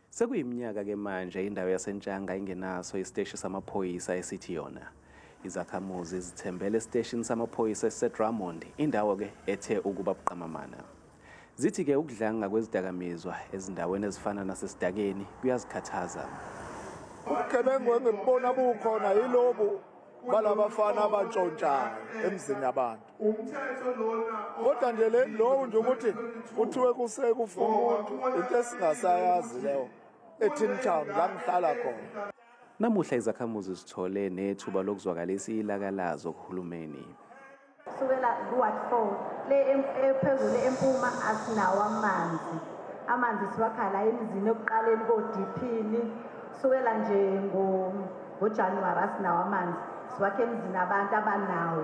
Sekuyiminyaka ke manje indawo yaseNtshanga ingenaso isiteshi samaphoyisa esithi yona. Izakhamuzi zithembele esiteshini samaphoyisa esiseDrummond, indawo ke ethe ukuba buqamamana. Zithi ke ukudlanga kwezidakamizwa ezindaweni ezifana nasesidakeni kuyazikhathaza. Ubugebengu engibubona bukhona yilobu balabafana abantshontshayo emzini yabantu. umthetho lona kodwa nje le lowo nje ukuthi kuthiwe kusekufa umuntu into esingasayazi leyo ethini town la ngihlala khona namuhla izakhamuzi zithole nethuba lokuzwakalisa ilaka lazo kuhulumeni kusukela ku-ward four le ephezulu empuma asinawo amanzi amanzi siwakhala emizini ekuqaleni kodiphini kusukela nje ngojanuwari asinawo amanzi siwakhe emizini abantu abanawo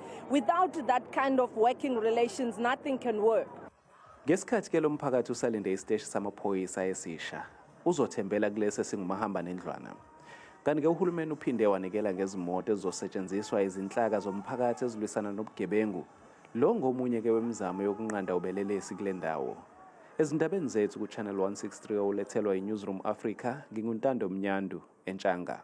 Without that kind of working relations, nothing can work. Ngesikhathi ke lomphakathi usalinde isiteshi samaphoyisa esisha, uzothembela kulesi esingumahamba nendlwana. Kanti ke uhulumeni uphinde wanikela ngezimoto ezizosetshenziswa izinhlaka zomphakathi ezilwisana nobugebengu. Lo ngomunye ke wemizamo yokunqanda ubelelesi kule ndawo. Ezindabeni zethu ku-Channel 163 olethelwa i-Newsroom Africa, nginguNtando Mnyandu, eNtshanga.